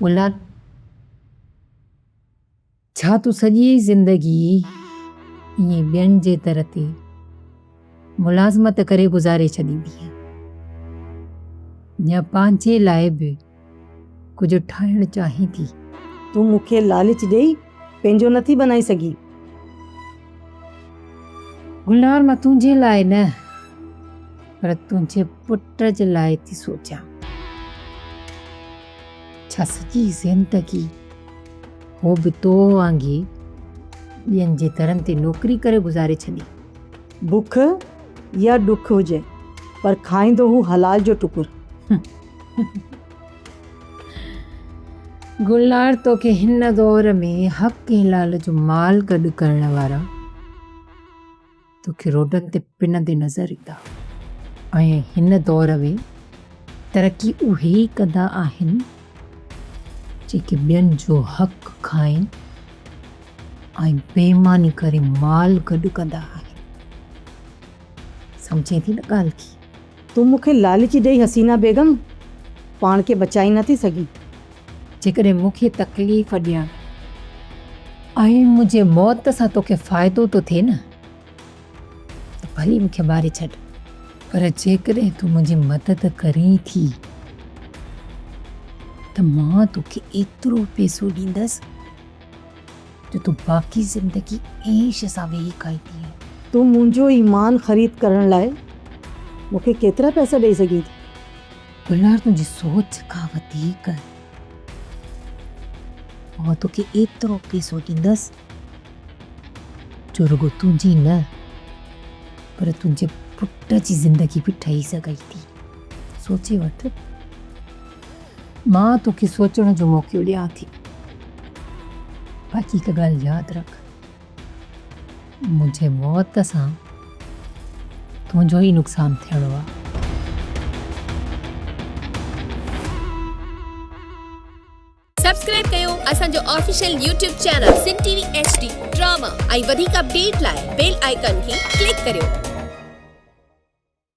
ملا! ڇا تون سڄي زندگي ائين ٻين جي در تي ملازمت ڪري گذاري ڇڏيندينء؟ يا پنهنجي لاء به ڪجهه ٺاهڻ چاهين ٿي؟ تون مون کي لالچ ڏيئي پنهنجو نه ٿي بنائي سگهين؟ گلنار مان تنهنجي لاء نه. پر تنهنجي پٽ جي لاء ٿي سوچيان. ڇا سڄي زندگي هو به تو وانگي ٻين جي درن تي نوڪري ڪري گذاري ڇڏي؟ بک يا ڏک هجي پر کائيندو هو حلال جو ٽڪر. گلنار توکي هن دور ۾ حق ۽ حلال جو مال گڏ ڪرڻ وارا. توکي روڊن تي پنندي نظر ايندا ۽ هن دور ۾ ترقي اهي ئي ڪندا آهن جيڪي ٻين جو حق کائين ۽ بيماني ڪري مال گڏ ڪندا آهن سمجهين ٿي نه ڳالهه کي. تون مون کي لالچ ڏئي حسينا بيگم پاڻ کي بچائي نه ٿي سگهين. جيڪڏهن مون کي تڪليف ڏيڻ ۽ منهنجي موت سان توکي فائدو ٿو ٿئي نه ته ڀلي مون کي ماري ڇڏ پر جيڪڏهن تون منهنجي مدد ڪرين ٿي ته مان توکي ايترو پيسو ڏيندس جو تون باقي زندگي عيش سان ويهي کائيندي. تون منهنجو ايمان خريد ڪرڻ لاء مون کي ڪيترا پئسا ڏئي سگهين ٿي؟ بلال تنهنجي سوچ کان وڌيڪ آئون توکي ايترو پئسو ڏيندس جو رڳو تنهنجي نه پر تنهنجي پٽ جي زندگي به ٺهي سگهي ٿي. سوچي وٺ. مان توکي سوچڻ جو موقعو ڏيان ٿي. باقي هڪ ڳالهه ياد رک. منهنجي موت سان تنهنجو ئي نقصان ٿيڻو آ. سبسڪرائب ڪيو اسان جو official YouTube channel Sindh T V H D drama ۽ وڌيڪ اپڊيٽ لاء بيل آئيڪان کي ڪلڪ ڪريو.